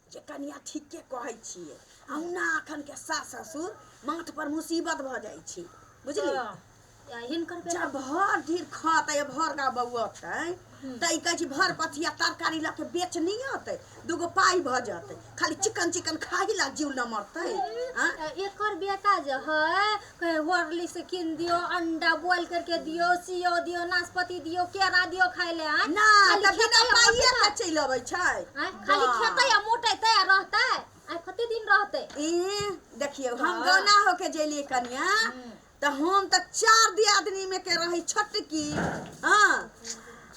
जे कनिया ठीके कहै छियै अहुना अखन के सास ससुर माथ पर मुसीबत भऽ जाइ छै बुझली आ हिनकर बेटा जब भर धीर खतै भर गा बौअतै तऽ ई कहै छै भर पथिया तरकारी लऽ के बेच नहि अतै दूगो पाइ भऽ जेतै खाली चिकन चिकन खाही ला जीव न मरतै आँ? एकर बेटा जे है कहे होरली से किन दियो अंडा बॉईल करके दियो सियो दियो नाशपाती दियो केरा दियो खाए ले आय ना खाली तब खेतै बिना आ पाइए मोटतै। के चलि अबै छै आय, खाली वाह। खेतै आ मोटेतै आ रहतै आ कते दिन रहतै ई देखियौ हम वाह। गौना होके जेलियै कनिया तऽ हम तऽ चार दियादनी में के रही छोटकी हाँ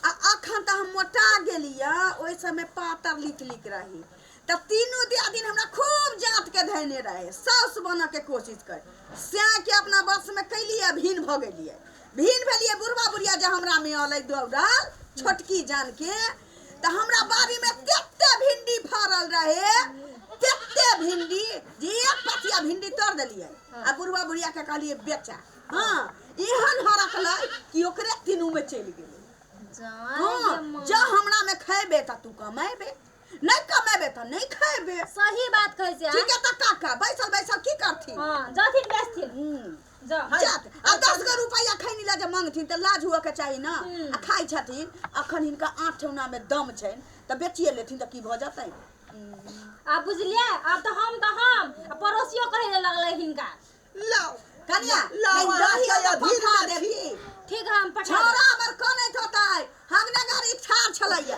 आ अखन तऽ हम मोटा गेलियै ओहि समय पातर लिक लिक रही तऽ तीनू दियादिन हमरा खूब जाँतके धैने रहै साउस बनऽके कोशिश करै सएहके अपना वशमे कैलियै आ भिन भऽ गेलियै भिन भेलियै बुढ़बा बुढ़िया जे हमरामे अलै दौड़ल छोटकी जानके तऽ हमरा बाड़ीमे तते भिंडी फड़ल रहै तते भिंडी जे एक पथिया भिंडी तोड़ देलियै आ बुढ़बा बुढ़ियाके कहलियै बेचा हँ एहन हरकलै कि ओकरे तीनूमे चलि गेलै हँ जँ हमरामे खैबे तऽ तू कमेबे नहीं कमेबे तो नहीं खाएबे सही बात कहै छै ठीक है तो का का बैसल बैसल की करथिन हां जथिन बेचथिन हम्म। जा हाय। जात आ दस गो रुपया खैनी ला जे मांगथिन तऽ लाज हुअ के चाही ना हम्म। आ खाइ छथिन अखन हिनका आठ ठेहुना में दम छैन तऽ बेचिए लेथिन तऽ की भऽ जेतै आ बुझलियै आब तऽ हम तऽ हम आ पड़ोसियो कहै ले लगलै हिनका लाओ कनिया लाओ, लाओ अहाँ दही के ओतऽ अधीर पठा में देब छी। की ठीक है हम पठा देब। छोरा हमर कनैत होतै हम ने गाड़ी ठार छलैया